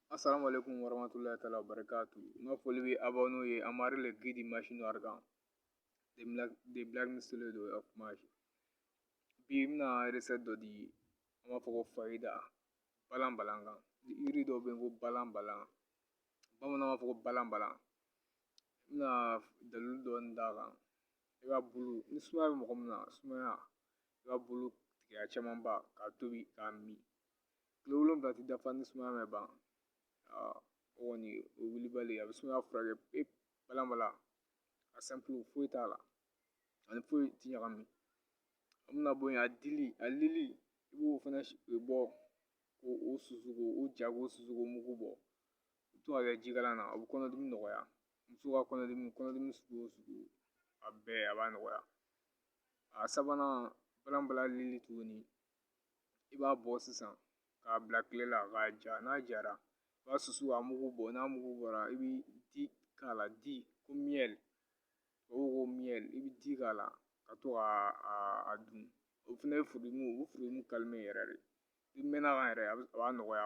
Assalamu alaikum warahmatullahi taala wabarakatuh. N ka foli bɛ aw n'o ye Amari le Guide Machine Argan de Black Mistule do of Mash. Bi n bɛna recette dɔ di an b'a fɔ ko fayida balan balan kan. Yiri dɔ bɛ yen ko balan balan bamananw b'a fɔ ko balan balan. N bɛna dalilu dɔɔni d'a kan. i b'a bulu ni sumaya bɛ mɔgɔ min na sumaya i b'a bulu tigɛ camanba k'a tobi k'a min kile wolonwula tɛ dafa ni sumaya ma ban o kɔni o wulibali a bɛ sumaya furakɛ pewu balan balan a simple foyi t'a la ani foyi ti ɲagami an bɛna bɔ yen a dili a lili i b'o fana bɔ k'o susu k'o ja k'o susu k'o mugu bɔ i bɛ to k'a kɛ jikalan na o bɛ kɔnɔdimi nɔgɔya muso ka kɔnɔdimi kɔnɔdimi sugu o sugu a bɛɛ a b'a nɔgɔya a sabanan balan balan lili tuguni i b'a bɔ sisan k'a bila kile la k'a ja n'a jara i b'a susu k'a mugu bɔ n'a mugu bɔra i bɛ di k'a la di ko miyɛli tubabuw ko miyɛli i bɛ di k'a la ka to k'a dun o fana ye furudimi o bɛ furudimi calmer yɛrɛ de i mɛnna a kan yɛrɛ a b'a nɔgɔya